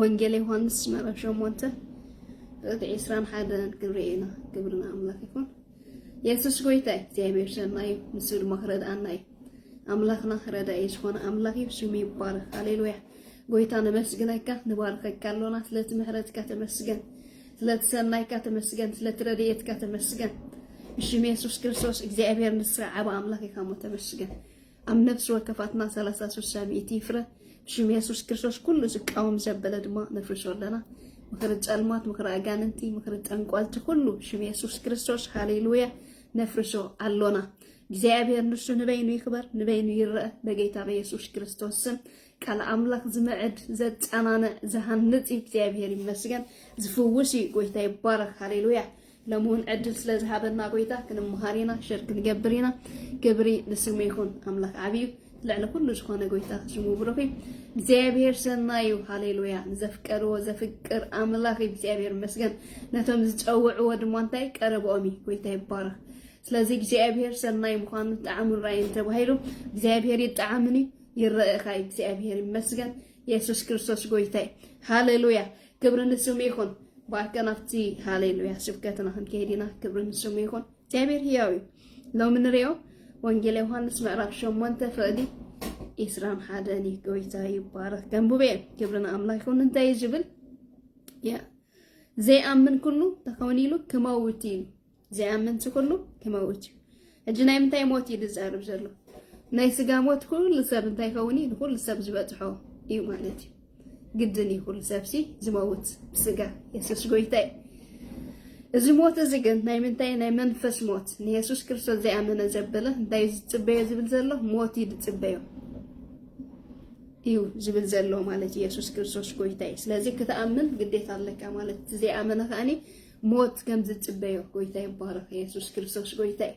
ወንጌል ዮሐንስ ምዕራፍ ሸሞንተ ርግዒ ዕስራን ሓደን ክንርኢ ኢና ክብርና ኣምላክ ይኹን የሱስ ጎይታ እዩ እግዚኣብሔር ሰና እዩ ንሱ ድማ ክረድኣና እዩ ኣምላኽና ረዳኢ ዝኾነ ኣምላኽ እዩ ስሙ ይባረክ ሃሌሉያ ጎይታ ነመስግነካ ንባርከካ ኣሎና ስለቲ ምሕረትካ ተመስገን ስለቲ ሰናይካ ተመስገን ስለቲ ረድኤትካ ተመስገን ብሽም የሱስ ክርስቶስ እግዚኣብሔር ንስኻ ዓብ ኣምላኽ ኢኻ እሞ ተመስገን ኣብ ነፍሲ ወከፋትና ሰላሳ ስሳ ሚእቲ ይፍረ ብሽም የሱስ ክርስቶስ ኩሉ ዝቃወም ዘበለ ድማ ነፍርሶ ኣለና ምክሪ ጸልማት ምክሪ ኣጋንንቲ ምክሪ ጠንቋልቲ ኩሉ ሽም የሱስ ክርስቶስ ሃሌሉያ ነፍርሶ ኣሎና እግዚኣብሔር ንሱ ንበይኑ ይክበር ንበይኑ ይረአ በጌታ በየሱስ ክርስቶስ ስም ቃል ኣምላኽ ዝምዕድ ዘጸናንዕ ዝሃንጽ እዩ እግዚኣብሔር ይመስገን ዝፍውስ እዩ ጎይታ ይባረኽ ሃሌሉያ ለምውን ዕድል ስለ ዝሃበና ጎይታ ክንምሃር ኢና ሸር ክንገብር ኢና ክብሪ ንስሙ ይኹን ኣምላኽ ዓብዩ ልዕሊ ኩሉ ዝኾነ ጎይታ ስሙ ብሩኽ እዩ እግዚኣብሔር ሰናዩ ሃሌሉያ ንዘፍቀርዎ ዘፍቅር ኣምላኽ እዩ እግዚኣብሔር መስገን ነቶም ዝፀውዕዎ ድማ እንታይ ቀረብኦም እዩ ጎይታ ይባረኽ ስለዚ እግዚኣብሔር ሰናይ ምዃኑ ጣዕሙን ራእይን ተባሂሉ እግዚኣብሔር ይጣዓምን እዩ ይረእኻ እግዚኣብሔር ይመስገን የሱስ ክርስቶስ ጎይታ እዩ ሃሌሉያ ክብሪ ንስሙ ይኹን ብኣካ ናብቲ ሃሌሉያ ስብከትና ክንከይድ ኢና ክብሪ ንስሙ ይኹን እግዚኣብሔር ህያው እዩ ሎሚ ንሪኦ ወንጌል ዮሃንስ ምዕራፍ ሸሞንተ ፍቕዲ ኢስራን ሓደን እዩ ጎይታ ይባረክ ገንቡበ እየ ክብሪ ንኣምላክ ይኹን እንታይ እዩ ዝብል ያ ዘይኣምን ኩሉ ተኸውን ኢሉ ክመውት እዩ ዘይኣምንሲ ኩሉ ክመውት እዩ ሕጂ ናይ ምንታይ ሞት እዩ ዝዛርብ ዘሎ ናይ ስጋ ሞት ኩሉ ሰብ እንታይ ይኸውን እዩ ንኩሉ ሰብ ዝበፅሖ እዩ ማለት እዩ ግድን እዩ ኩሉ ሰብሲ ዝመውት ብስጋ የሱስ ጎይታ እዩ እዚ ሞት እዚ ግን ናይ ምንታይ ናይ መንፈስ ሞት ንየሱስ ክርስቶስ ዘይኣመነ ዘበለ እንታይ ዝፅበዮ ዝብል ዘሎ ሞት እዩ ዝፅበዮ እዩ ዝብል ዘሎ ማለት ኢየሱስ ክርስቶስ ጎይታ እዩ ስለዚ ክትኣምን ግዴታ ኣለካ ማለት እቲ ዘይኣመነ ከዓኒ ሞት ከም ዝጽበዮ ጎይታ ይባረኽ የሱስ ክርስቶስ ጎይታ እዩ።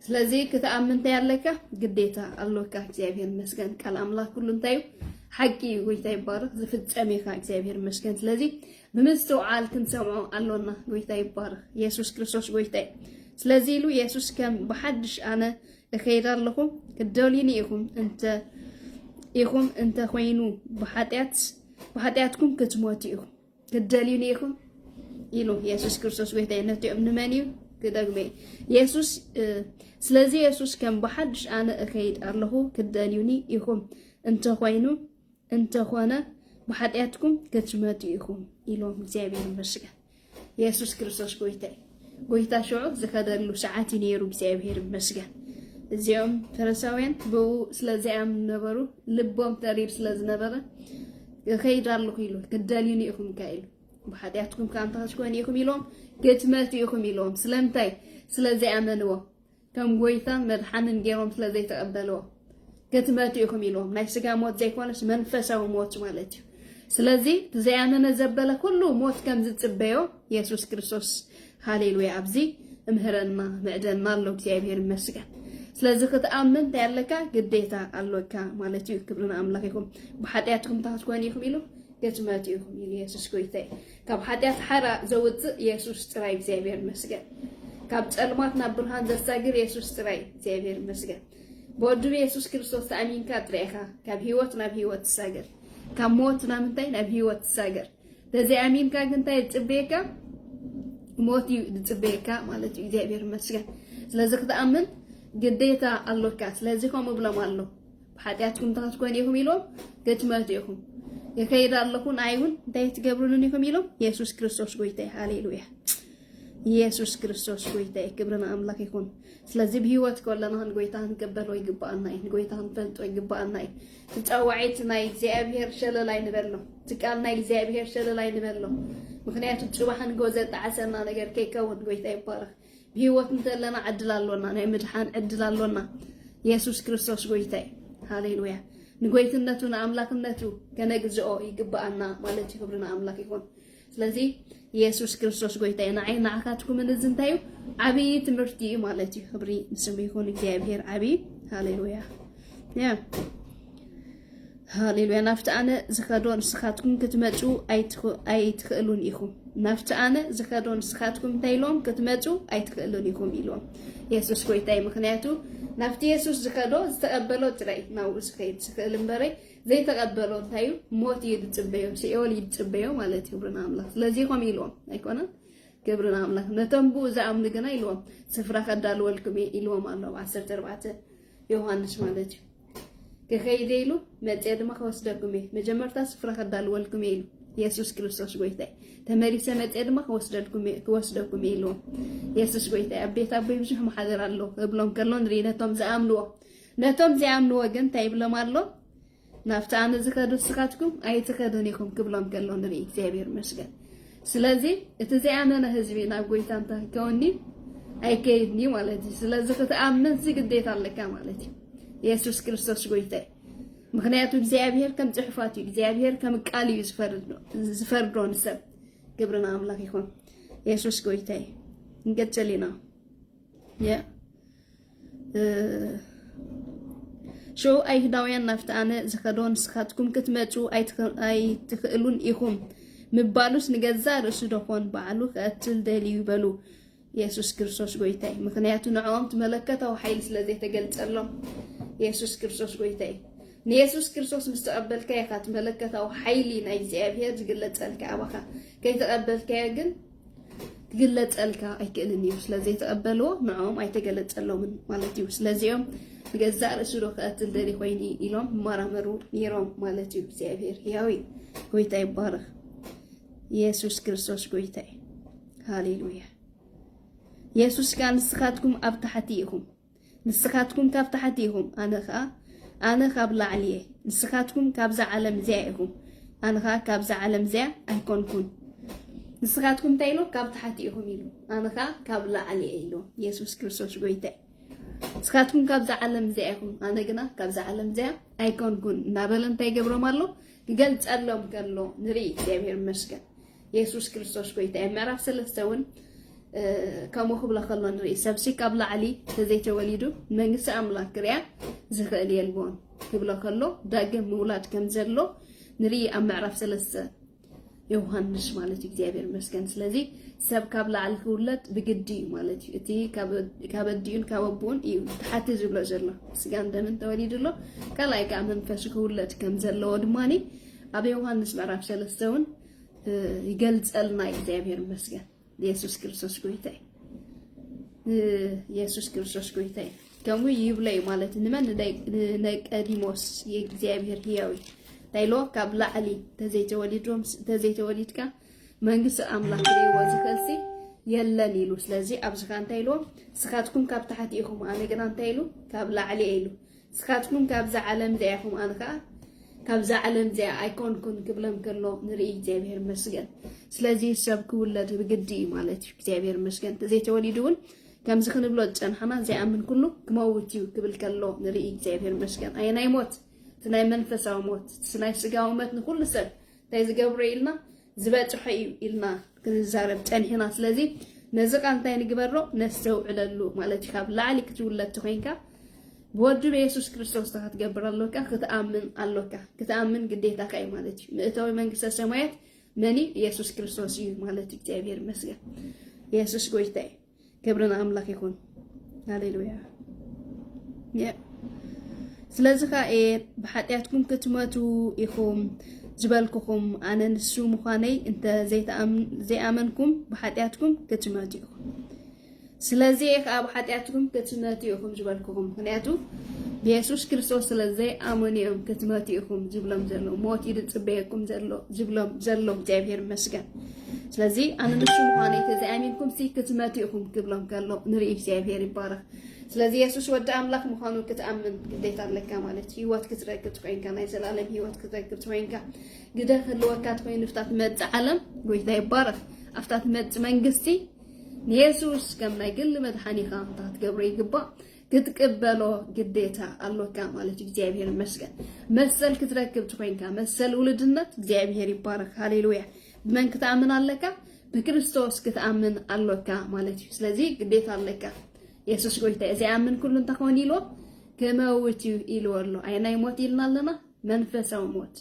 ስለዚ ክትኣምን እንታይ ኣለካ ግዴታ ኣሎካ። እግዚኣብሔር መስገን ቃል ኣምላኽ ኩሉ እንታይ እዩ ሓቂ እዩ። ጎይታ ይባረኽ ዝፍጸም ኢኻ እግዚኣብሔር መስገን። ስለዚ ብምስትውዓል ክንሰምዖ ኣሎና። ጎይታ ይባረኽ የሱስ ክርስቶስ ጎይታ እዩ። ስለዚ ኢሉ የሱስ ከም ብሓድሽ ኣነ እኸይድ ኣለኹ ክትደልዩኒ ኢኹም እንተ ኢኹም እንተ ኮይኑ ብሓጢኣት ብሓጢኣትኩም ክትሞቱ ኢኹም ክትደልዩኒ ኢኹም ኢሉ የሱስ ክርስቶስ ጎይታይ ነቲኦም ንመን እዩ ክደግመ የሱስ ስለዚ የሱስ ከም ብሓድሽ ኣነ እኸይድ ኣለኹ ክትደልዩኒ ኢኹም እንተኾይኑ እንተኾነ ብሓጢኣትኩም ክትመቱ ኢኹም ኢሎም እግዚኣብሔር ይመስገን የሱስ ክርስቶስ ጎይታይ ጎይታ ሽዑ ዝከደሉ ሰዓት እዩ ነይሩ እግዚኣብሔር ይመስገን። እዚኦም ፈረሳውያን ብኡ ስለ ዘይኣምኑ ነበሩ፣ ልቦም ተሪር ስለ ዝነበረ እኸይድ ኣለኹ ኢሉ ክትደልዩኒ ኢኹም ከ ኢሉ ብሓጢኣትኩም ከ ኣንታ ክትኮኑ ኢኹም ኢሎም ክትመቱ ኢኹም ኢሎም ስለምንታይ ስለ ዘይኣመንዎ ከም ጎይታን መድሓንን ጌሮም ስለ ዘይተቀበልዎ ክትመቱ ኢኹም ኢልዎም ናይ ስጋ ሞት ዘይኮነስ መንፈሳዊ ሞት ማለት እዩ ስለዚ ብዘያመነ ዘበለ ኩሉ ሞት ከም ዝጽበዮ የሱስ ክርስቶስ ሃሌሉያ ኣብዚ እምህረና ምዕደና ኣሎ እግዚኣብሔር ይመስገን ስለዚ ክትኣምን እንታይ ኣለካ ግዴታ ኣሎካ ማለት እዩ ክብሪ ንኣምላኽ ይኹም ብሓጢኣትኩም እንታይ ክትኮኑ ኢኹም ኢሉ ክትመቱ ኢኹም ኢሉ የሱስ ጎይታ እዩ ካብ ሓጢኣት ሓራ ዘውጽእ የሱስ ጥራይ እግዚኣብሔር ይመስገን ካብ ጸልማት ናብ ብርሃን ዘሳግር የሱስ ጥራይ እግዚኣብሔር ይመስገን ብወዱ የሱስ ክርስቶስ ተኣሚንካ ጥራይ ኢኻ ካብ ህይወት ናብ ህይወት ትሳገር ካብ ሞት ናብ እንታይ ናብ ህይወት ትሳገር ተዘይኣሚንካ ግን እንታይ ዝፅበየካ ሞት እዩ ዝፅበየካ ማለት እዩ እግዚኣብሔር ይመስገን ስለዚ ክትኣምን ግዴታ ኣሎካ ስለዚ ከምኡ ብሎም ኣሎ ብሓጢኣትኩም እንታይ ክትኮኑ ኢኹም ኢሎም ክትመቱ ኢኹም የከይድ ኣለኹ ንኣይ እውን እንታይ ትገብርሉን ኢኹም ኢሎም የሱስ ክርስቶስ ጎይታይ ሃሌሉያ ኢየሱስ ክርስቶስ ጎይታ እዩ። ክብሪ ንኣምላኽ ይኹን። ስለዚ ብሂወት ከለና ንጎይታ ክንቅበሎ ይግባኣና እዩ። ንጎይታ ክንፈልጦ ይግባኣና እዩ። ትፃዋዒት ናይ እግዚኣብሄር ሸለል ኣይንበሎ። ትቃል ናይ እግዚኣብሄር ሸለል ኣይንበሎ። ምክንያቱ ፅባሕ ንጎ ዘጣዓሰና ነገር ከይከውን ጎይታ ይባረክ። ብሂወት እንተለና ዕድል ኣሎና ናይ ምድሓን ዕድል ኣሎና የሱስ ክርስቶስ ጎይታ እዩ ሃሌሉያ ንጎይትነቱ ንኣምላክነቱ ከነግዝኦ ይግብኣና ማለት እዩ ክብሪ ንኣምላክ ይኹን ስለዚ የሱስ ክርስቶስ ጎይታ እዩ ንዓይ ንዓካትኩምን እዚ እንታይ እዩ ዓብዪ ትምህርቲ እዩ ማለት እዩ ክብሪ ንስሙ ይኹን እግዚኣብሄር ዓብዪ ሃሌሉያ ያ ሃሌሉያ ናብቲ ኣነ ዝኸዶ ንስኻትኩም ክትመፁ ኣይትኽእሉን ኢኹም ናብቲ ኣነ ዝኸዶ ንስኻትኩም እንታይ ኢሎም ክትመፁ ኣይትኽእሉን ኢኹም ኢሎም የሱስ ጎይታይ ምክንያቱ ናብቲ የሱስ ዝከዶ ዝተቀበሎ ጥራይ ናብኡ ዝከይድ ዝክእል እምበረ ዘይተቀበሎ እንታይ እዩ ሞት እዩ ዝፅበዮ ሲኦል እዩ ዝፅበዮ ማለት እዩ ክብርና ኣምላኽ ስለዚ ከምኡ ኢልዎም ኣይኮነን ክብርና ኣምላኽ ነቶም ብኡ ዝኣምኑ ግና ኢልዎም ስፍራ ከዳልወልኩም እየ ኢልዎም ኣሎ ዓሰርተ ኣርባዕተ ዮሃንስ ማለት እዩ ክኸይድ ኢሉ መፅየ ድማ ክወስደኩም እየ መጀመርታ ስፍራ ከዳልወልኩም እየ ኢሉ የሱስ ክርስቶስ ጎይታ ተመሊሰ መፅየ ድማ ክወስደልኩም ክወስደኩም እየ ኢልዎም የሱስ ጎይታ ኣብ ቤት ኣቦይ ብዙሕ መሓደር ኣሎ እብሎም ከሎ ንርኢ ነቶም ዝኣምንዎ ነቶም ዘይኣምንዎ ግን እንታይ ይብሎም ኣሎ ናብቲ ኣነ ዝኸዱ ንስኻትኩም ኣይትኸዱን ኢኹም ክብሎም ከሎ ንርኢ እግዚኣብሔር ይመስገን ስለዚ እቲ ዘይኣመነ ህዝቢ ናብ ጎይታ እንተ ክከወኒ ኣይከይድንዩ ማለት እዩ ስለዚ ክትኣምን እዚ ግዴታ ኣለካ ማለት እዩ የሱስ ክርስቶስ ጎይታይ ምክንያቱ እግዚኣብሄር ከም ፅሑፋት እዩ እግዚኣብሄር ከም ቃል እዩ ዝፈርዶ ንሰብ ግብርና ኣምላኽ ይኹን የሱስ ጎይታይ ንገጨሊና ያ ሽዑ ኣይሁዳውያን ናብቲ ኣነ ዝኸዶ ንስኻትኩም ክትመፁ ኣይትኽእሉን ኢኹም ምባሉስ ንገዛእ ርእሱ ደኾን ባዕሉ ክቐትል ደልዩ በሉ የሱስ ክርስቶስ ጎይታይ ምክንያቱ ንዕኦም መለከታዊ ሓይሊ ስለ ዘይተገልጸሎም የሱስ ክርስቶስ ጎይታይ ንየሱስ ክርስቶስ ምስ ተቐበልካ ኢኻ እቲ መለከታዊ ሓይሊ ናይ እግዚኣብሄር ዝግለጸልካ ኣባኻ ከይተቐበልካዮ ግን ክግለፀልካ ኣይክእልን እዩ ስለዘይተቐበልዎ ንዕኦም ኣይተገለፀሎምን ማለት እዩ ስለዚኦም ንገዛእ ርእሱ ዶ ክቐትል ደሊ ኮይኒ ኢሎም ይመራመሩ ነይሮም ማለት እዩ እግዚኣብሔር ህያዊ ጎይታ ይባረኽ ኢየሱስ ክርስቶስ ጎይታ እዩ ሃሌሉያ ኢየሱስ ከዓ ንስኻትኩም ኣብ ታሕቲ ኢኹም ንስኻትኩም ካብ ታሕቲ ኢኹም፣ ኣነ ኸኣ ኣነ ካብ ላዕሊ እየ። ንስኻትኩም ካብዛ ዓለም እዚኣ ኢኹም፣ ኣነ ኸኣ ካብዛ ዓለም እዚኣ ኣይኮንኩን። ንስኻትኩም እንታይ ኢሉ? ካብ ታሕቲ ኢኹም ኢሉ፣ ኣነ ኸኣ ካብ ላዕሊ እየ ኢሉ። የሱስ ክርስቶስ ጎይታ እዩ። ንስኻትኩም ካብዛ ዓለም እዚኣ ኢኹም ኣነ ግና ካብዛ ዓለም እዚኣ ኣይኮንኩን እናበለ እንታይ ገብሮም ኣሎ ክገልጸሎም ከሎ ንርኢ እግዚኣብሔር ይመስገን የሱስ ክርስቶስ ጎይታ እዩ። ምዕራፍ ሰለስተ እውን ከምኡ ክብሎ ከሎ ንርኢ ሰብሲ ካብ ላዕሊ ተዘይተወሊዱ መንግስቲ ኣምላክ ክርያ ዝኽእል የልቦን ክብሎ ከሎ ዳግም ምውላድ ከም ዘሎ ንርኢ ኣብ ምዕራፍ ሰለስተ ዮሃንስ ማለት እዩ እግዚኣብሔር መስገን ስለዚ ሰብ ካብ ላዕሊ ክውለድ ብግዲ እዩ ማለት እዩ እቲ ካብ ኣዲኡን ካብ ኣቦኡን እዩ ተሓቲ ዝብሎ ዘሎ ስጋን ደምን ተወሊዱ ኣሎ ካልኣይ ከዓ መንፈሱ ክውለድ ከም ዘለዎ ድማ ኣብ ዮሃንስ ምዕራፍ ሰለስተ እውን ይገልጸልና እዩ። እግዚኣብሔር ይመስገን። ኢየሱስ ክርስቶስ ጎይታ እዩ። ኢየሱስ ክርስቶስ ጎይታ እዩ። ከምኡ ይብለ እዩ ማለት ንመን ንቀዲሞስ የእግዚኣብሔር ህያው እዩ ታይሎ ካብ ላዕሊ ተዘይተወሊዶም ተዘይተወሊድካ መንግስቲ ኣምላኽ ክርእይዎ ዝኽእልሲ የለን ኢሉ ስለዚ ኣብዚ ከ እንታይ ኢልዎም ንስኻትኩም ካብ ታሕቲ ኢኹም ኣነ ግና እንታይ ኢሉ ካብ ላዕሊ ኢሉ ስካትኩም ካብዛ ዓለም እዚኣ ኢኩም ኣነ ከኣ ካብዛ ዓለም እዚኣ ኣይኮንኩን ክብለም ከሎ ንርኢ እግዚኣብሔር መስገን ስለዚ ሰብ ክውለድ ብግዲ እዩ ማለት እዩ እግዚኣብሔር መስገን ተዘይተወሊዱ እውን ከምዚ ክንብሎ ዝፀናሕና ዘይኣምን ኩሉ ክመውት እዩ ክብል ከሎ ንርኢ እግዚኣብሔር መስገን ኣየ ናይ ሞት እቲ ናይ መንፈሳዊ ሞት እቲ ናይ ስጋዊ ሞት ንኩሉ ሰብ እንታይ ዝገብሮ ኢልና ዝበፅሖ እዩ ኢልና ክንዛረብ ጸኒሕና ስለዚ ነዚ ቃል እንታይ ንግበሮ ነስተውዕለሉ ማለት እዩ ካብ ላዕሊ ክትውለድ ተኮይንካ ብወዱ በየሱስ ክርስቶስ ታ ክትገብር ኣሎካ ክትኣምን ኣሎካ ክትኣምን ግዴታካ እዩ ማለት እዩ ምእታዊ መንግስተ ሰማያት መን እዩ የሱስ ክርስቶስ እዩ ማለት እዩ እግዚኣብሔር ይመስገን የሱስ ጎይታ እዩ ክብሪ ንኣምላኽ ይኹን ሃሌሉያ ስለዚ ከዓ እየ ብሓጢኣትኩም ክትመቱ ኢኹም ዝበልኩኹም ኣነ ንሱ ምዃነይ እንተ ዘይኣመንኩም ብሓጢኣትኩም ክትመቱ ኢኹም ስለዚ እየ ከዓ ብሓጢኣትኩም ክትመቱ ኢኹም ዝበልኩኹም ምክንያቱ ብየሱስ ክርስቶስ ስለ ዘይኣመኑ እዮም ክትመቱ ኢኹም ዝብሎም ዘሎ ሞት እዩ ዝፅበየኩም ዘሎ ዝብሎም ዘሎ እግዚኣብሔር ይመስገን ስለዚ ኣነ ንሱ ምዃነይ ተዘይኣሚንኩም ሲ ክትመቱ ኢኹም ክብሎም ከሎ ንርኢ እግዚኣብሄር ይባረኽ ስለዚ የሱስ ወዲ ኣምላኽ ምዃኑ ክትኣምን ግዴታ ኣለካ ማለት እዩ ህይወት ክትረግፅ ኮይንካ ናይ ዘላለም ህይወት ክትረግፅ ኮይንካ ግደ ክህልወካ ትኮይኑ ፍታ ትመፅ ዓለም ጎይታ ይባረኽ ኣብታ ትመፅ መንግስቲ ንየሱስ ከም ናይ ግሊ መድሓኒኻ እንታ ክትገብሮ ይግባእ ክትቅበሎ ግዴታ ኣሎካ ማለት እዩ። እግዚኣብሔር ይመስገን መሰል ክትረክብ ትኮይንካ መሰል ውልድነት እግዚኣብሔር ይባረክ። ሃሌሉያ ብመን ክትኣምን ኣለካ? ብክርስቶስ ክትኣምን ኣሎካ ማለት እዩ። ስለዚ ግዴታ ኣለካ የሱስ ጎይታ እዩ ዘይኣምን ኩሉ እንታይ ክኾን ኢልዎ ክመውት እዩ ኢልዎ ኣሎ። ኣየናይ ሞት ኢልና ኣለና? መንፈሳዊ ሞት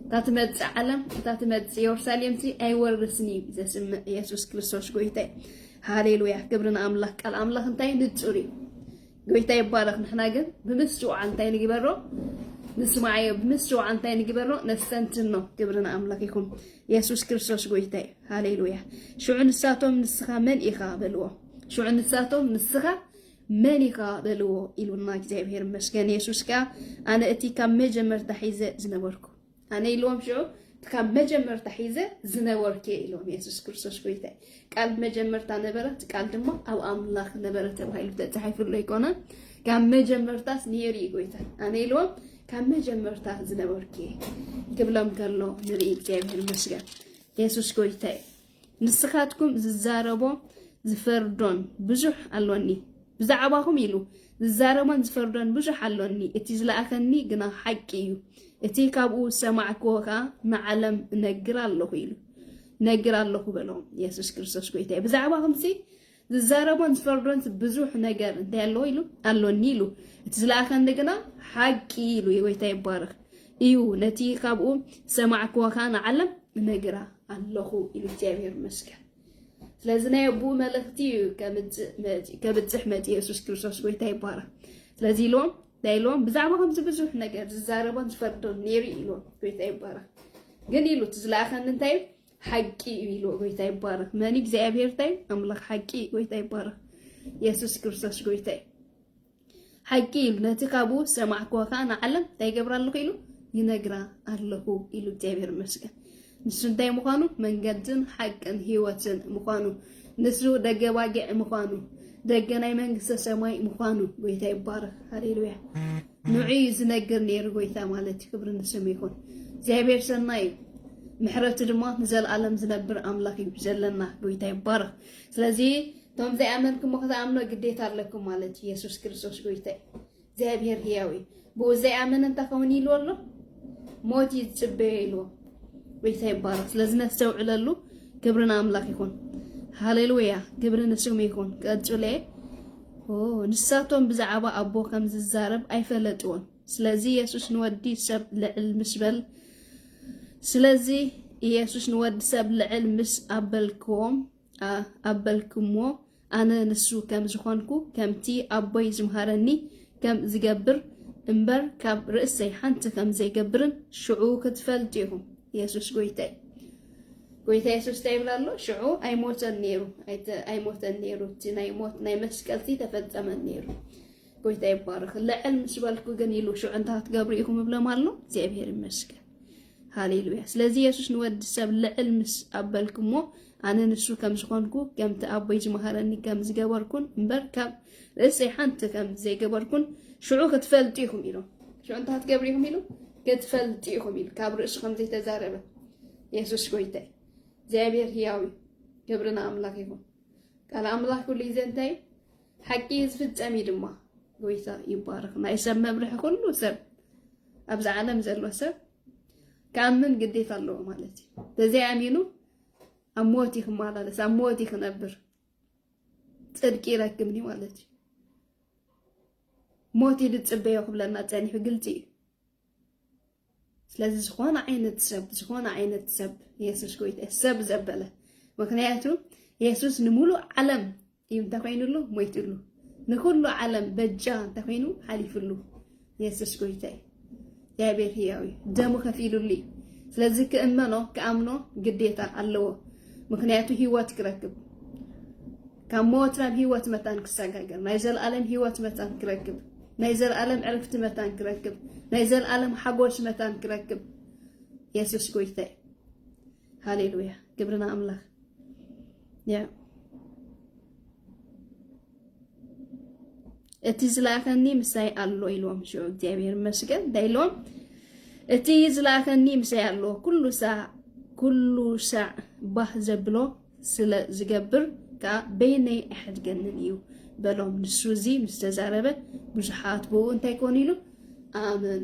እታ ትመጽእ ዓለም እታ ትመጽእ የሩሳሌምሲ ኣይወርስን እዩ ዘስምዕ ኢየሱስ ክርስቶስ ጎይታይ ሃሌሉያ ክብሪ ንኣምላኽ ቃል ኣምላኽ እንታይ ንጹር እዩ ጎይታ ይባረኽ ንሕና ግን ብምስትውዓል እንታይ ንግበሮ ንስማዓዮ ብምስትውዓል እንታይ ንግበሮ ነስተንትኖ ክብሪ ንኣምላኽ ይኹን የሱስ ክርስቶስ ጎይታ እዩ ሃሌሉያ ሽዑ ንሳቶም ንስኻ መን ኢኻ በልዎ ሽዑ ንሳቶም ንስኻ መን ኢኻ በልዎ ኢሉና እግዚኣብሔር ይመስገን የሱስ ከኣ ኣነ እቲ ካብ መጀመርታ ሒዘ ዝነበርኩ ኣነ ኢልዎም ሽዑ ካብ መጀመርታ ሒዘ ዝነበርክ ኢሎም የሱስ ክርስቶስ ጎይታ ቃል መጀመርታ ነበረት ቃል ድማ ኣብ ኣምላኽ ነበረ ተባሂሉ ተጻሒፍሎ ይኮነ ካብ መጀመርታስ ነይሩ እዩ ጎይታ ኣነ ኢልዎም ካብ መጀመርታ ዝነበርክ ክብሎም ከሎ ንርኢ እግዚኣብሔር ይመስገን የሱስ ጎይታ እዩ ንስኻትኩም ዝዛረቦ ዝፈርዶን ብዙሕ ኣሎኒ ብዛዕባኹም ኢሉ ዝዛረቦን ዝፈርዶን ብዙሕ ኣሎኒ እቲ ዝለኣኸኒ ግና ሓቂ እዩ እቲ ካብኡ ዝሰማዕክዎ ከኣ ንዓለም እነግር ኣለኹ ኢሉ ነግር ኣለኹ በሎም። የሱስ ክርስቶስ ጎይታ እዩ። ብዛዕባ ከምዚ ዝዛረቦን ዝፈርዶን ብዙሕ ነገር እንታይ ኣለዎ ኢሉ ኣሎኒ ኢሉ እቲ ዝለኣኸኒ ግና ሓቂ ኢሉ የጎይታ ይባረኽ እዩ ነቲ ካብኡ ሰማዕክዎ ከዓ ንዓለም እነግራ ኣለኹ ኢሉ እግዚኣብሔር ይመስገን ስለዚ ናይ ኣቡኡ መልእኽቲ እዩ ከብፅሕ መፅ የሱስ ክርስቶስ ጎይታ ይባረክ ስለዚ ኢሎም እንታይ ኢሎም ብዛዕባ ከምዚ ብዙሕ ነገር ዝዛረቦን ዝፈርዶን ነይሩ ኢሎም ጎይታ ይባረክ ግን ኢሉ እቲ ዝለኣኸኒ እንታይ እዩ ሓቂ እዩ ኢሉ ጎይታ ይባረክ መን እግዚኣብሔር ታይ ኣምላኽ ሓቂ እዩ ጎይታ ይባረክ የሱስ ክርስቶስ ጎይታ እዩ ሓቂ ኢሉ ነቲ ካብኡ ዝሰማዕክዎ ከዓ ንዓለም እንታይ ይገብራ ኣለኹ ኢሉ ይነግራ ኣለኹ ኢሉ እግዚኣብሔር ይመስገን ንሱ እንታይ ምዃኑ መንገድን ሓቅን ህይወትን ምዃኑ ንሱ ደገ ባጊዕ ምዃኑ ደገ ናይ መንግስተ ሰማይ ምዃኑ ጎይታ ይባረክ ሃሌሉያ ንዑ እዩ ዝነግር ነይሩ ጎይታ ማለት እዩ። ክብሪ ንስሙ ይኹን። እግዚኣብሔር ሰናይ እዩ። ምሕረቱ ድማ ንዘለኣለም ዝነብር ኣምላኽ እዩ ዘለና ጎይታ ይባረኽ። ስለዚ እቶም ዘይኣመንክሞ ክትኣምኖ ግዴታ ኣለኩም ማለት እዩ። የሱስ ክርስቶስ ጎይታ እዩ። እግዚኣብሔር ህያው እዩ። ብኡ ዘይኣመነ እንታይ ከውን ኢልዎ ኣሎ ሞት እዩ ዝፅበዮ ኢልዎ። ጎይታ ይባረኽ። ስለዚ ነስተውዕለሉ። ክብሪ ንኣምላኽ ይኹን። ሃሌሉያ ክብሪ ንስሙ ይኹን። ቀጽለ ኦው ንሳቶም ብዛዕባ ኣቦ ከም ዝዛረብ ኣይፈለጥዎን ስለዚ የሱስ ንወዲ ሰብ ልዕል ምስ በል ስለዚ ኢየሱስ ንወዲ ሰብ ልዕል ምስ ኣበልክዎም ኣበልክምዎ ኣነ ንሱ ከም ዝኾንኩ ከምቲ ኣቦይ ዝምሃረኒ ከም ዝገብር እምበር ካብ ርእሰይ ሓንቲ ከም ዘይገብርን ሽዑ ክትፈልጡ ኢኹም የሱስ ጎይታይ ጎይታ የሱስ ታይ ይብል ኣሎ ሽዑ ኣይሞተን ነይሩ ኣይሞተን ነይሩ እቲ ናይ ሞት ናይ መስቀልቲ ተፈጸመን ነይሩ ጎይታ ይባረኽ ልዕል ምስ በልኩ ግን ኢሉ ሽዑ እንታይ ክትገብሩ ኢኹም እብሎም ኣሎ እግዚኣብሔር ይመስገን ሃሌሉያ። ስለዚ የሱስ ንወዲ ሰብ ልዕል ምስ ኣበልክሞ ኣነ ንሱ ከም ዝኾንኩ ከምቲ ኣቦይ ዝመሃረኒ ከም ዝገበርኩን እምበር ካብ ርእሰይ ሓንቲ ከም ዘይገበርኩን ሽዑ ክትፈልጡ ኢኹም ኢሎም ሽዑ እንታይ ክትገብሩ ኢኹም ኢሉ ክትፈልጡ ኢኹም ኢሉ ካብ ርእሱ ከም ዘይተዛረበ የሱስ ጎይታይ እግዚኣብሔር ህያው እዩ ክብሪ ንኣምላኽ ይኹን ቃል ኣምላኽ ኩሉ ግዜ እንታይ ሓቂ እዩ ዝፍጸም እዩ ድማ ጎይታ ይባረኽ ናይ ሰብ መምርሒ ኩሉ ሰብ ኣብዚ ዓለም ዘሎ ሰብ ክኣምን ግዴታ ኣለዎ ማለት እዩ ተዘይኣሚኑ ኣብ ሞት እዩ ክመላለስ ኣብ ሞት እዩ ክነብር ጽድቂ ይረክብኒ ማለት እዩ። ሞት እዩ ዝፅበዮ ክብለና ፀኒሑ ግልፂ እዩ። ስለዚ ዝኾነ ዓይነት ሰብ ዝኾነ ዓይነት ሰብ የሱስ ጎይታ ሰብ ዘበለ ምክንያቱ የሱስ ንምሉእ ዓለም እዩ እንተኮይኑሉ ሞይትሉ ንኩሉ ዓለም በጃ እንተኮይኑ ሓሊፍሉ የሱስ ጎይታይ እግዚኣብሔር ህያው እዩ ደሙ ከፊሉሉ እዩ ስለዚ ክእመኖ ክኣምኖ ግዴታ ኣለዎ ምክንያቱ ህይወት ክረክብ ካብ ሞት ናብ ህይወት መታን ክሰጋገር ናይ ዘለኣለም ህይወት መታን ክረክብ ናይ ዘለኣለም ዕርፍቲ መታን ክረክብ ናይ ዘለኣለም ሓጎስ መታን ክረክብ የሱስ ጎይታይ ሃሌሉያ ግብርና ኣምላኽ ያ እቲ ዝለኣኸኒ ምሳይ ኣሎ ኢልዎም ሽዑ እግዚኣብሔር ይመስገን እንታይ ኢልዎም እቲ ዝለኣኸኒ ምሳይ ኣሎ ኩሉ ሳዕ ኩሉ ሳዕ ባህ ዘብሎ ስለ ዝገብር ከዓ በይነይ ኣይሕድገንን እዩ በሎም ንሱ እዚ ምስ ተዛረበ ብዙሓት ብኡ እንታይ ኮኑ ኢሉ ኣመኑ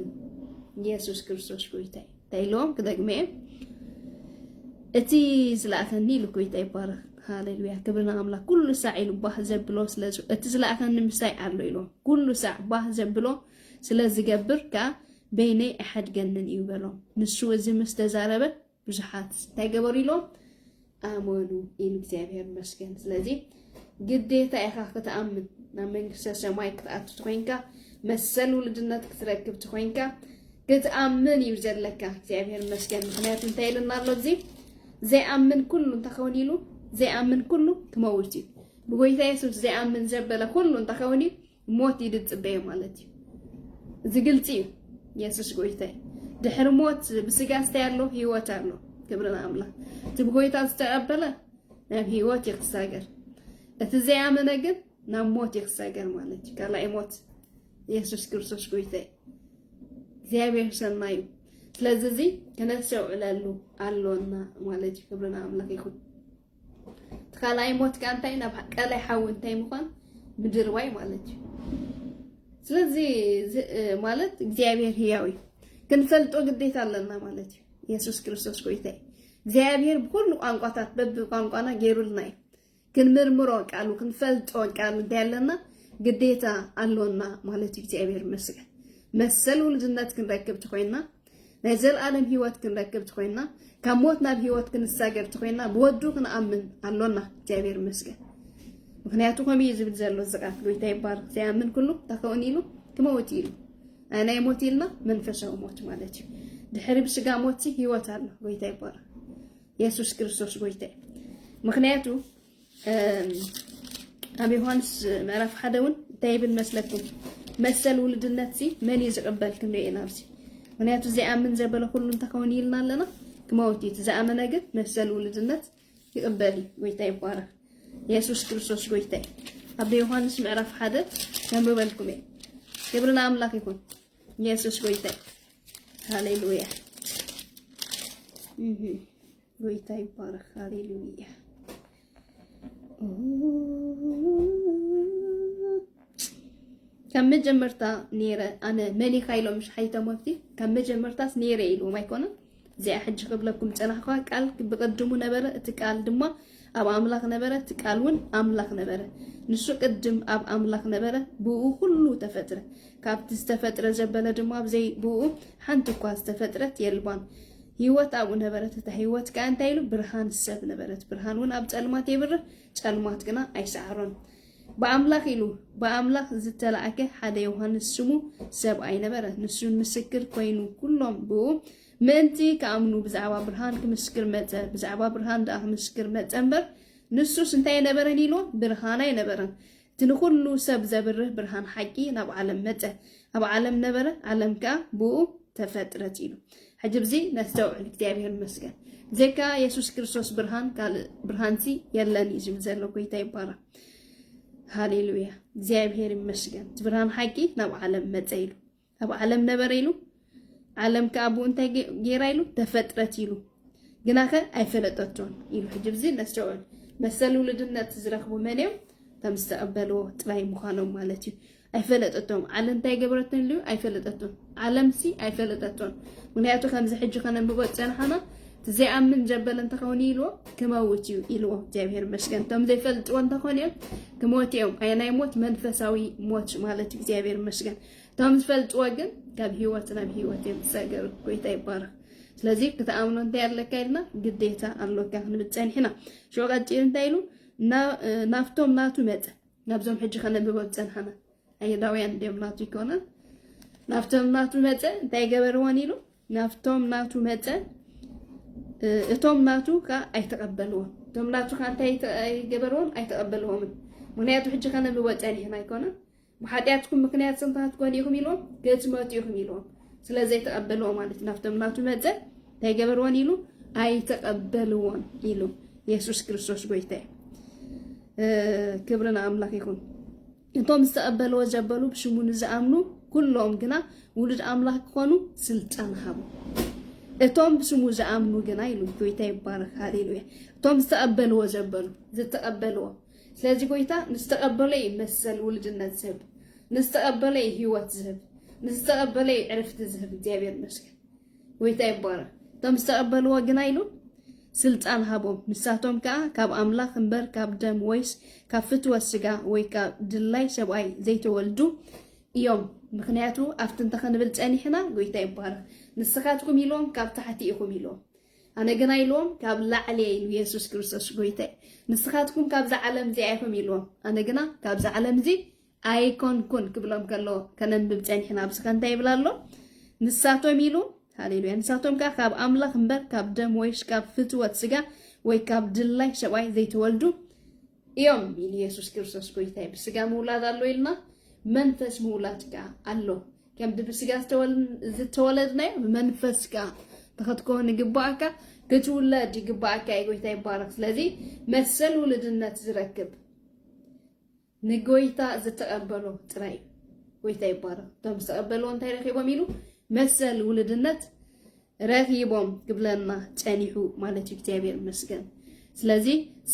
ኢየሱስ ክርስቶስ ጎይታ እዩ ኢሎ ክደግሜ እቲ ዝለኣኸኒ ኢሉ ጎይታ ይባረኽ ሃሌሉያ ክብሪ ንኣምላኽ ኩሉ ሳዕ ኢሉ ባህ ዘብሎ ስለ እቲ ዝለኣኸኒ ምሳይ ኣሎ ኢሎ ኩሉ ሳዕ ባህ ዘብሎ ስለ ዝገብር ከዓ በይነይ ኣይሓድገንን እዩ በሎ ንሱ እዚ ምስ ተዛረበ ብዙሓት እንታይ ገበሩ ኢሎም ኣመኑ ኢሉ እግዚኣብሔር ይመስገን። ስለዚ ግዴታ ኢኻ ክትኣምን ናብ መንግስተ ሰማይ ክትኣቱ ትኮይንካ መሰል ውልድነት ክትረክብ ትኮይንካ ክትኣምን እዩ ዘለካ። እግዚኣብሔር ይመስገን። ምክንያቱ እንታይ ኢልና ኣሎ እዚ ዘይኣምን ኩሉ እንተኸውን ኢሉ ዘይኣምን ኩሉ ክመውት እዩ ብጎይታ የሱስ ዘይኣምን ዘበለ ኩሉ እንተኸውን እዩ ሞት እዩ ዝፅበዮ ማለት እዩ። እዚ ግልፂ እዩ። የሱስ ጎይታይ ድሕሪ ሞት ብስጋ ስታይ ኣሎ ህይወት ኣሎ። ክብሪ ንኣምላኽ። እቲ ብጎይታ ዝተቐበለ ናብ ህይወት እዩ ክሳገር፣ እቲ ዘይኣመነ ግን ናብ ሞት እዩ ክሳገር ማለት እዩ። ካልኣይ ሞት የሱስ ክርስቶስ ጎይታይ እግዚኣብሔር ሰናይ እዩ። ስለዚ እዚ ክነስተውዕለሉ ኣሎና ማለት እዩ። ክብሪ ንኣምላኽ ይኹን። ትካላይ ሞት ከኣ እንታይ ናብ ቀላይ ሓዊ እንታይ ምዃን ምድርባይ ማለት እዩ ስለዚ ማለት እግዚኣብሔር ህያው እዩ ክንፈልጦ ግዴታ ኣለና ማለት እዩ የሱስ ክርስቶስ ጎይታ እዩ እግዚኣብሔር ብኩሉ ቋንቋታት በቢ ቋንቋና ገይሩልና እዩ ክንምርምሮ ቃሉ ክንፈልጦ ቃሉ እንታይ ኣለና ግዴታ ኣሎና ማለት እዩ እግዚኣብሔር መስገን መሰል ውልድነት ክንረክብ ተኮይንና ናይ ዘለኣለም ህይወት ክንረክብ ትኮይና ካብ ሞት ናብ ህይወት ክንሳገር ትኮይና ብወዱ ክንኣምን ኣሎና እግዚኣብሔር ይመስገን ምክንያቱ ከምኡ እዩ ዝብል ዘሎ እዚ ቃል ጎይታ ይባርክ ዘይኣምን ኩሉ ታከውን ኢሉ ክመውት ኢሉ ናይ ሞት ኢልና መንፈሳዊ ሞት ማለት እዩ ድሕሪ ብስጋ ሞት ህይወት ኣሎ ጎይታ ይባርክ የሱስ ክርስቶስ ጎይታ እዩ ምክንያቱ ኣብ ዮሃንስ ምዕራፍ ሓደ እውን እንታይ ይብል መስለኩም? መሰል ውልድነት ሲ መን እዩ ዝቕበል ክንሪኦ ኢና ኣብዚ። ምክንያቱ ዘይኣምን ዘበለ ኩሉ እንታይ ከውን ኢልና ኣለና ክመውት እዩ። ዝኣመነ ግን መሰል ውልድነት ይቕበል እዩ። ጎይታ ይባረክ። የሱስ ክርስቶስ ጎይታ እዩ። ኣብ ዮሃንስ ምዕራፍ ሓደ ነንብበልኩም እየ። ክብሪ ንኣምላኽ ይኹን። የሱስ ጎይታ እዩ። ሃሌሉያ ጎይታ ይባረክ ሃሌሉያ ካብ መጀመርታ ነይረ ኣነ መን ኢኻ ኢሎም ምሽ ሓይቶም ኣብቲ ካብ መጀመርታስ ነይረ ኢልዎም ኣይኮነን እዚኣ ሕጂ ክብለኩም ፀናሕኳ ቃል ብቅድሙ ነበረ እቲ ቃል ድማ ኣብ ኣምላኽ ነበረ እቲ ቃል እውን ኣምላኽ ነበረ ንሱ ቅድም ኣብ ኣምላኽ ነበረ ብኡ ኩሉ ተፈጥረ ካብቲ ዝተፈጥረ ዘበለ ድማ ብዘይ ብኡ ሓንቲ እኳ ዝተፈጥረት የልባን ህይወት ኣብኡ ነበረት፣ እታ ህይወት ከኣ እንታይ ኢሉ ብርሃን ሰብ ነበረት፣ ብርሃን እውን ኣብ ጸልማት የብርህ፣ ጸልማት ግና ኣይሰዓሮን። ብኣምላኽ ኢሉ ብኣምላኽ ዝተላእከ ሓደ ዮሃንስ ስሙ ሰብኣይ ነበረ፣ ንሱ ምስክር ኮይኑ ኩሎም ብኡ ምእንቲ ክኣምኑ ብዛዕባ ብርሃን ክምስክር መጸ፣ ብዛዕባ ብርሃን ደኣ ክምስክር መጸ እምበር ንሱስ እንታይ ኣይነበረን ኢልዎ፣ ብርሃን ኣይነበረን። እቲ ንኹሉ ሰብ ዘብርህ ብርሃን ሓቂ ናብ ዓለም መጸ፣ ኣብ ዓለም ነበረ፣ ዓለም ከኣ ብእኡ ተፈጥረት ኢሉ። ሕጂ ብዚ ነስተውዕል። እግዚኣብሄር ይመስገን ብዘይካ የሱስ ክርስቶስ ብርሃን ካልእ ብርሃንሲ የለን እዩ ዝብል ዘሎ። ጎይታ ይባረኽ። ሃሌሉያ። እግዚኣብሄር ይመስገን እቲ ብርሃን ሓቂ ናብ ዓለም መጸ ኢሉ። ኣብ ዓለም ነበረ ኢሉ ዓለም ከ ኣብኡ እንታይ ጌራ ኢሉ ተፈጥረት ኢሉ ግናኸ ኣይፈለጠቶን ኢሉ ሕጂ ብዚ ነስተውዕል መሰል ውልድነት ዝረኽቡ መን እዮም ከም ዝተቐበልዎ ጥራይ ምዃኖም ማለት እዩ ኣይፈለጠቶም ዓለም እንታይ ገበረቶን ኢሉ ኣይፈለጠቶን ዓለምሲ ኣይፈለጠቶን ምክንያቱ ከምዚ ሕጂ ከነንብቦ ዝፀናሓና እቲ ዘይኣምን ዘበለ እንተኸውን ኢልዎ ክመውት እዩ ኢልዎ እግዚኣብሔር ይመስገን እቶም ዘይፈልጥዎ እንተኾን እዮም ክሞት እዮም ናይ ሞት መንፈሳዊ ሞት ማለት እዩ እግዚኣብሔር ይመስገን እቶም ዝፈልጥዎ ግን ካብ ሂወት ናብ ሂወት እዮም ዝሰገሩ። ጎይታ ይባረኽ። ስለዚ ክትኣምኖ እንታይ ኣለካ ኢልና ግዴታ ኣሎካ ክንብል ፀኒሕና። ሽዑ ቀፂሉ እንታይ ኢሉ ናብቶም ናቱ መፀ። ናብዞም ሕጂ ከነብቦ ዝፀናሕና ኣይሁዳውያን እንዲኦም ናቱ ይኮነን። ናብቶም ናቱ መፀ እንታይ ገበርዎን ኢሉ ናብቶም ናቱ መፀ እቶም ናቱ ከዓ ኣይተቀበልዎም። እቶም ናቱ ከዓ እንታይ ገበርዎም? ኣይተቀበልዎምን። ምክንያቱ ሕጂ ከነብቦ ፀኒሕና ኣይኮነን ብሓጢኣትኩም ምኽንያት ጽንታት ኮን ኢኹም ኢልዎም ክትመቱ ኢኹም ኢልዎም ስለ ዘይተቐበልዎ ማለት እዩ ናብቶም ናቱ መጸ እንታይ ገበርዎን ኢሉ ኣይተቐበልዎን ኢሉ የሱስ ክርስቶስ ጎይታ እዩ ክብሪ ንኣምላኽ ይኹን እቶም ዝተቐበልዎ ዘበሉ ብሽሙ ንዝኣምኑ ኩሎም ግና ውሉድ ኣምላኽ ክኾኑ ስልጣን ሃቡ እቶም ብስሙ ዝኣምኑ ግና ኢሉ ጎይታ ይባረክ ሃሌሉያ እቶም ዝተቐበልዎ ዘበሉ ዝተቐበልዎ ስለዚ ጎይታ ምስ ተቐበሎ እዩ መሰል ውሉድነት ዝህብ፣ ምስ ተቐበሎ እዩ ህይወት ዝህብ፣ ምስ ዝተቐበሎ እዩ ዕርፍቲ ዝህብ። እግዚኣብሔር ይመስገን፣ ጎይታ ይባረክ። እቶም ዝተቐበልዎ ግና ኢሉ ስልጣን ሃቦም፣ ንሳቶም ከዓ ካብ ኣምላኽ እምበር ካብ ደም ወይስ ካብ ፍትወት ስጋ ወይ ካብ ድላይ ሰብኣይ ዘይተወልዱ እዮም። ምክንያቱ ኣብቲ እንተኸንብል ጸኒሕና፣ ጎይታ ይባረክ፣ ንስኻትኩም ኢልዎም ካብ ታሕቲ ኢኹም ኢልዎም። ኣነ ግና ኢልዎም ካብ ላዕሊ እየ ኢሉ የሱስ ክርስቶስ ጎይታይ ንስኻትኩም ካብዛ ዓለም እዚኣ ኢኹም ኢልዎም ኣነ ግና ካብዛ ዓለም እዚ ኣይኮንኩን ክብሎም ከሎ ከነንብብ ጸኒሕና ኣብዚ ከ እንታይ ይብል ኣሎ ንሳቶም ኢሉ ሃሌሉያ ንሳቶም ከዓ ካብ ኣምላኽ እምበር ካብ ደም ወይስ ካብ ፍትወት ስጋ ወይ ካብ ድላይ ሰብኣይ ዘይተወልዱ እዮም ቢል ኢየሱስ ክርስቶስ ጎይታይ ብስጋ ምውላድ ኣሎ ኢልና መንፈስ ምውላድ ጋ ኣሎ ከምቲ ብስጋ ዝተወለድናዮ መንፈስ ጋ ተኸትከውን ይግባኣካ ክትውለድ ይግባኣካ እዩ ጎይታ ይባረክ ስለዚ መሰል ውልድነት ዝረክብ ንጎይታ ዝተቀበሎ ጥራይ እዩ ጎይታ ይባረክ እቶም ዝተቀበልዎ እንታይ ረኪቦም ኢሉ መሰል ውልድነት ረኺቦም ክብለና ጸኒሑ ማለት እዩ እግዚኣብሔር ይመስገን ስለዚ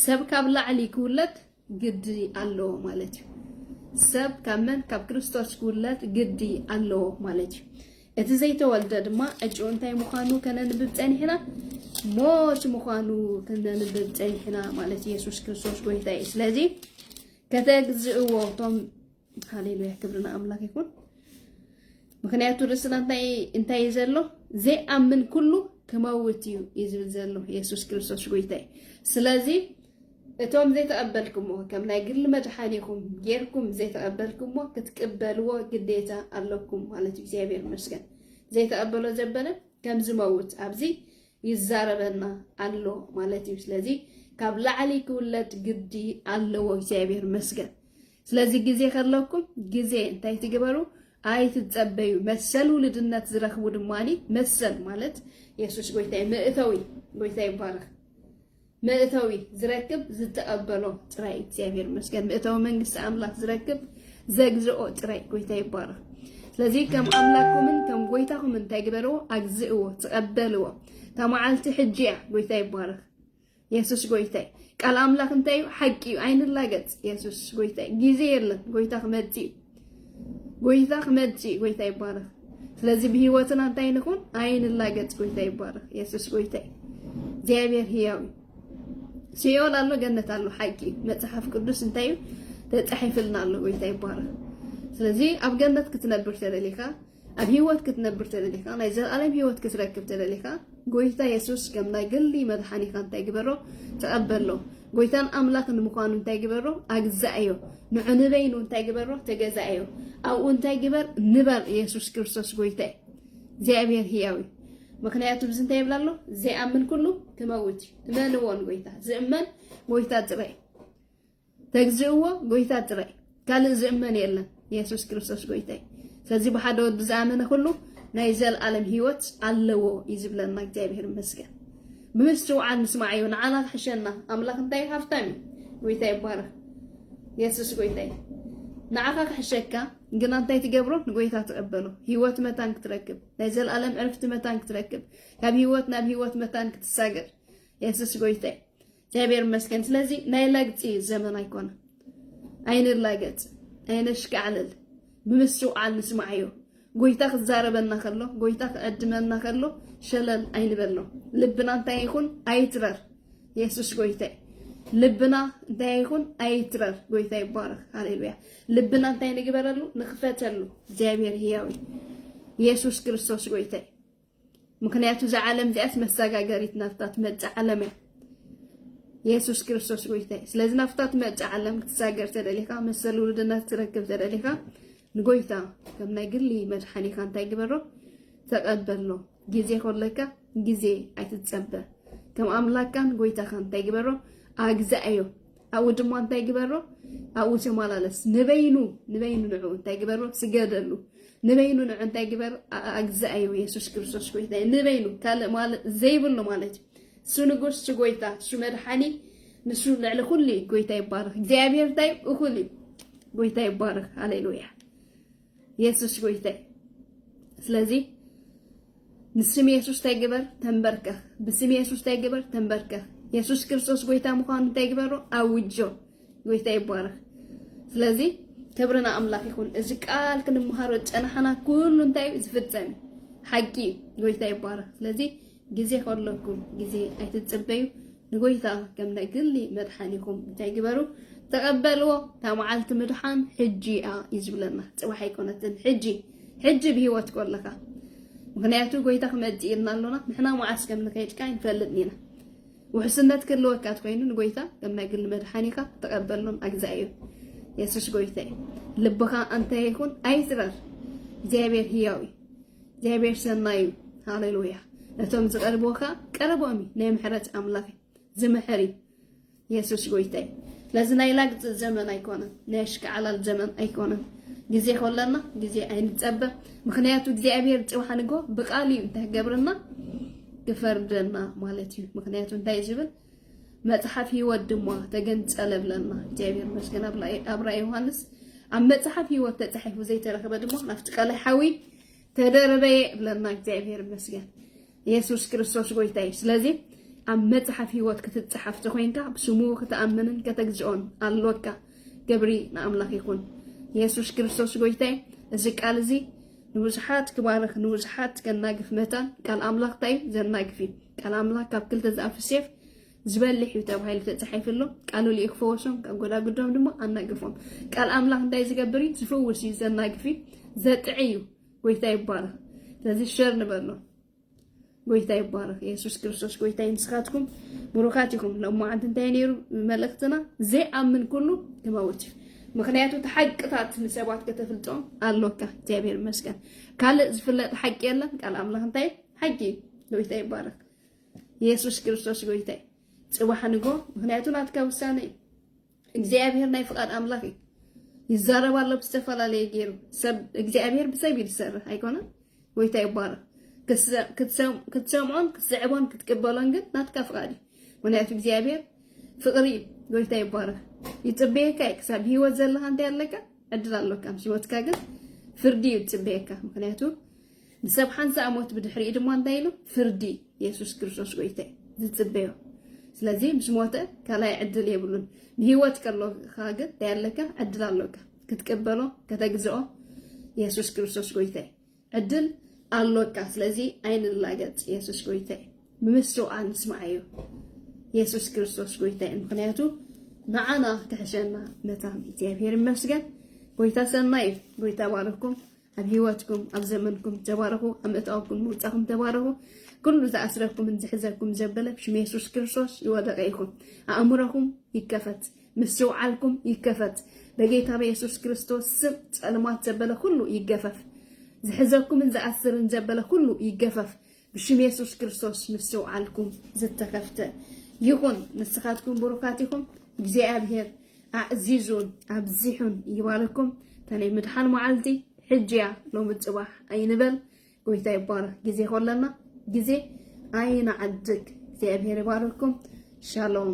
ሰብ ካብ ላዕሊ ክውለድ ግዲ ኣለዎ ማለት እዩ ሰብ ካብ መን ካብ ክርስቶስ ክውለድ ግዲ ኣለዎ ማለት እዩ እቲ ዘይተወልደ ድማ ዕጭኡ እንታይ ምዃኑ ከነንብብ ጸኒሕና ሞት ምዃኑ ከነንብብ ጸኒሕና ማለት ኢየሱስ ክርስቶስ ጎይታ እዩ ስለዚ ከተግዝእዎ እቶም ሃሌሉያ ክብሪ ንኣምላክ ይኹን ምክንያቱ ርእስና እንታይ እንታይ እዩ ዘሎ ዘይኣምን ኩሉ ክመውት እዩ እዩ ዝብል ዘሎ የሱስ ክርስቶስ ጎይታ እዩ ስለዚ እቶም ዘይተቐበልኩሞ ከም ናይ ግሊ መድሓኒኹም ጌርኩም ዘይተቐበልኩሞ ክትቅበልዎ ግዴታ ኣለኩም ማለት እዩ እግዚኣብሔር ይመስገን ዘይተቐበሎ ዘበለ ከም ዝመውት ኣብዚ ይዛረበና ኣሎ ማለት እዩ ስለዚ ካብ ላዕሊ ክውለድ ግዲ ኣለዎ እግዚኣብሔር ይመስገን ስለዚ ግዜ ከለኩም ግዜ እንታይ ትግበሩ ኣይትጸበዩ መሰል ውልድነት ዝረኽቡ ድማኒ መሰል ማለት የሱስ ጎይታይ መእተዊ ጎይታ ይባረኽ መእተዊ ዝረክብ ዝተቐበሎ ጥራይ እግዚኣብሔር መስገን መእተዊ መንግስቲ ኣምላክ ዝረክብ ዘግዝኦ ጥራይ ጎይታ ይባረኽ። ስለዚ ከም ኣምላክኩምን ከም ጎይታኹም እንታይ ግበርዎ ኣግዝእዎ፣ ተቐበልዎ። እታ መዓልቲ ሕጂ እያ። ጎይታ ይባረኽ። የሱስ ጎይታይ ቃል ኣምላኽ እንታይ እዩ ሓቂ እዩ ኣይንላገጽ የሱስ ጎይታይ ግዜ የለን ጎይታ ክመጽእ እዩ ጎይታ ክመጽእ እዩ ጎይታ ይባረኽ ስለዚ ብሂወትና እንታይ ንኹን ኣይንላገጽ ጎይታ ይባረኽ የሱስ ጎይታይ እግዚኣብሔር ህያው እዩ ሲኦል ኣሎ ገነት ኣሎ ሓቂ እዩ መጽሓፍ ቅዱስ እንታይ እዩ ተጻሒፍልና ኣሎ ጎይታ ይባረኽ ስለዚ ኣብ ገነት ክትነብር ተደሊኻ ኣብ ህይወት ክትነብር ተደሊኻ ናይ ዘለኣለም ህይወት ክትረክብ ተደሊኻ ጎይታ የሱስ ከም ናይ ግሊ መድሓኒኻ እንታይ ግበሮ ተቐበሎ ጎይታን ኣምላኽን ምዃኑ እንታይ ግበሮ ኣግዛእዮ ንዑ ንበይኑ እንታይ ግበሮ ተገዛእዮ ኣብኡ እንታይ ግበር ንበር የሱስ ክርስቶስ ጎይታ እዩ እግዚኣብሔር ህያው እዩ ምክንያቱ ብዚ እንታይ ይብላ ኣሎ ዘይኣምን ኩሉ ክመውት እዩ እመንዎን ጎይታ ዝእመን ጎይታ ጥራይ እዩ ተግዝእዎ ጎይታ ጥራይ ካልእ ዝእመን የለን የሱስ ክርስቶስ ጎይታይ ስለዚ ብሓደ ወዲ ዝኣመነ ኩሉ ናይ ዘለኣለም ህይወት ኣለዎ እዩ ዝብለና እግዚኣብሄር ይመስገን ብምስትውዓል ምስማዕ እዩ ንዓና ክሕሸና ኣምላኽ እንታይ ሃፍታም እዩ ጎይታ ይባረኽ የሱስ ጎይታይ ንዓኻ ክሕሸካ ግና እንታይ ትገብሮ ንጎይታ ትቐበሎ ህይወት መታን ክትረክብ ናይ ዘለኣለም ዕርፍቲ መታን ክትረክብ ካብ ህይወት ናብ ህይወት መታን ክትሳገር የሱስ ጎይታይ እግዚኣብሔር ይመስገን። ስለዚ ናይ ለግፂ እዩ ዘመን ኣይኮነ። ኣይንላገፅ፣ ኣይነሽካዕልል፣ ብምስትውዓል ንስማዕዮ። ጎይታ ክዛረበና ከሎ፣ ጎይታ ክዕድመና ከሎ ሸለል ኣይንበሎ። ልብና እንታይ ይኹን ኣይትረር። የሱስ ጎይታ እዩ። ልብና እንታይ ይኹን ኣይትረር። ጎይታ ይባረክ። ሃሌሉያ። ልብና እንታይ ንግበረሉ? ንክፈተሉ። እግዚኣብሔር ህያው እዩ። የሱስ ክርስቶስ ጎይታ እዩ። ምክንያቱ እዛ ዓለም እዚኣስ መሰጋገሪት ናብታ ትመጽእ ዓለም እያ። የሱስ ክርስቶስ ጎይታ እዩ። ስለዚ ናብታ ትመጽእ ዓለም ክትሳገር ተደሊኻ መሰል ውልድነት ትረክብ ተደሊኻ ንጎይታ ከም ናይ ግሊ መድሓኒኻ እንታይ ግበሮ ተቐበሎ። ግዜ ኮለካ ግዜ ኣይትጸበ። ከም ኣምላካን ጎይታኻን እንታይ ግበሮ ኣግዛኣዮ። ኣብኡ ድማ እንታይ ግበሮ ኣብኡ ተመላለስ ንበይኑ ንበይኑ ንዑ እንታይ ግበሮ ስገደሉ ንበይኑ ንዑ እንታይ ግበር ኣግዛእዩ የሱስ ክርስቶስ ጎይታ ንበይኑ ካልእ ማለት ዘይብሉ ማለት እዩ እሱ ንጉስ እሱ ጎይታ እሱ መድሓኒ ንሱ ልዕሊ ኩሉ እዩ ጎይታ ይባረክ እግዚኣብሔር እንታይ እኹል እዩ ጎይታ ይባረክ ሃሌሉያ የሱስ ጎይታይ ስለዚ ንስም የሱስ እንታይ ግበር ተንበርከኽ ብስም የሱስ እንታይ ግበር ተንበርከኽ የሱስ ክርስቶስ ጎይታ ምዃኑ እንታይ ግበሮ ኣውጆ ጎይታ ይባረኽ ስለዚ ክብርና ኣምላኽ ይኹን እዚ ቃል ክንምሃሮ ጨናሓና ኩሉ እንታይ ዝፍጸም ሓቂ ጎይታ ይባረኽ ስለዚ ግዜ ከሎኩም ግዜ ኣይትጽበዩ ንጎይታ ከም ናይ ግሊ መድሓኒኹም እንታይ ግበሩ ተቐበልዎ እታ መዓልቲ ምድሓን ሕጂ እያ እዩ ዝብለና ጽባሕ ኣይኮነትን ሕጂ ሕጂ ብሂወት ከለኻ ምክንያቱ ጎይታ ክመጽእ ኢልና ኣሎና ንሕና መዓስ ከም ንኸይድ ከኣ ይንፈልጥ ኢና ውሕስነት ክህልወካ ትኮይኑ ንጎይታ ከም ናይ ግሊ መድሓኒካ ተቀበሉን ኣግዛእ እዩ የሱስ ጎይታ እዩ ልብካ ኣንታይ ይኹን ኣይትረር እግዚኣብሔር ህያው እዩ እግዚኣብሔር ሰናይ እዩ ሃሌሉያ ነቶም ዝቀርብዎ ከዓ ቀረቦም እዩ ናይ ምሕረት ኣምላኽ እዩ ዝምሕር እዩ የሱስ ጎይታ እዩ ስለዚ ናይ ላግፂ ዘመን ኣይኮነን ናይ ኣሽከዓላል ዘመን ኣይኮነን ግዜ ከለና ግዜ ኣይንፀበ ምክንያቱ እግዚኣብሔር ፅባሕ ንግሆ ብቃል እዩ እንታይ ገብርና ክፈርደና ማለት እዩ ምክንያቱ እንታይ ዝብል መጽሓፍ ህይወት ድማ ተገንጸለ ብለና እግዚኣብሔር መስገን ኣብ ራእይ ዮሃንስ ኣብ መጽሓፍ ህይወት ተጻሒፉ ዘይተረክበ ድማ ናፍቲ ቀላይ ሓዊ ተደረበየ ብለና እግዚኣብሔር መስገን ኢየሱስ ክርስቶስ ጎይታ እዩ ስለዚ ኣብ መጽሓፍ ህይወት ክትጽሓፍ ተኮይንካ ብስሙ ክትኣምንን ከተግዝኦን ኣሎካ ገብሪ ንኣምላኽ ይኹን ኢየሱስ ክርስቶስ ጎይታይ እዚ ቃል እዚ ንብዙሓት ክባርኽ ንብዙሓት ከናግፍ መታን ቃል ኣምላኽ እንታይ እዩ ዘናግፍ እዩ ቃል ኣምላኽ ካብ ክልተ ዝኣፍ ሴፍ ዝበልሕ እዩ ተባሂሉ ተጻሒፉ ኣሎ ቃሉ ልዩ ክፈወሶም ካብ ጎዳጉዶም ድማ ኣናግፎም ቃል ኣምላኽ እንታይ ዝገብር እዩ ዝፍውስ እዩ ዘናግፍ እዩ ዘጥዕ እዩ ጎይታ ይባረኽ ስለዚ ሸር ንበሎ ጎይታ ይባረክ የሱስ ክርስቶስ ጎይታ ንስኻትኩም ብሩካት ኢኹም ሎም መዓልቲ እንታይ ነይሩ መልእክትና ዘይኣምን ኩሉ ክመውት እዩ ምክንያቱ እቲ ሓቅታት ንሰባት ከተፍልጦም ኣሎካ እግዚኣብሔር ይመስገን ካልእ ዝፍለጥ ሓቂ የለን ቃል ኣምላኽ እንታይ ሓቂ እዩ ጎይታ ይባረክ የሱስ ክርስቶስ ጎይታ እዩ ፅባሕ ንጎ ምክንያቱ ናትካ ውሳነ እዩ እግዚኣብሔር ናይ ፍቃድ ኣምላክ እዩ ይዛረብ ኣሎ ብዝተፈላለየ ገይሩ ሰብ እግዚኣብሔር ብሰብ እዩ ዝሰርሕ ኣይኮነን ጎይታ ይባረክ ክትሰምዖን ክትስዕቦን ክትቅበሎን ግን ናትካ ፍቃድ እዩ ምክንያቱ እግዚኣብሔር ፍቅሪ እዩ ጎይታ ይባረክ ይፅበየካ እዩ ክሳብ ብሂወት ዘለካ እንታይ ኣለካ ዕድል ኣለካ ምስ ሂወትካ ግን ፍርዲ እዩ ዝፅበየካ ምክንያቱ ንሰብ ሓንሳእ ሞት ብድሕሪኡ ድማ እንታይ ኢሉ ፍርዲ የሱስ ክርስቶስ ጎይታይ ዝጽበዮ ስለዚ ምስ ሞተ ካልኣይ ዕድል የብሉን። ንህይወት ከሎካ ግን እንታይ ኣለካ? ዕድል ኣሎካ ክትቅበሎ ከተግዝኦ የሱስ ክርስቶስ ጎይታይ ዕድል ኣሎካ። ስለዚ ኣይንላገጽ፣ የሱስ ጎይታይ ብምስውኣ ንስምዓዮ የሱስ ክርስቶስ ጎይታይ። ምክንያቱ ንዓና ክሕሸና መታን እግዚኣብሔር ይመስገን። ጎይታ ሰናይ እዩ። ጎይታ ባረኩም። ኣብ ሂወትኩም ኣብ ዘመንኩም ተባረኹ ኣብ ምእታወኩም ምውጻኹም ተባረኹ ኩሉ ዝኣስረኩምን ዝሕዘኩም ዘበለ ብሽም የሱስ ክርስቶስ ይወደቀ ይኹን ኣእምሮኹም ይከፈት ምስትውዓልኩም ይከፈት በጌታ በየሱስ ክርስቶስ ስም ጸልማት ዘበለ ኩሉ ይገፈፍ ዝሕዘኩምን ዝኣስርን ዘበለ ኩሉ ይገፈፍ ብሽም የሱስ ክርስቶስ ምስትውዓልኩም ዝተኸፍተ ይኹን። ንስኻትኩም ብሩካት ኢኹም። እግዚኣብሄር ኣዕዚዙን ኣብዚሑን ይባርኩም። እታ ናይ ምድሓን መዓልቲ ሕጂ እያ ሎሚ ጽባሕ ኣይንበል። ጎይታ ይባረኽ። ግዜ ከለና ግዜ ኣይንዓድግ። እግዚኣብሄር ይባርኩም። ሻሎም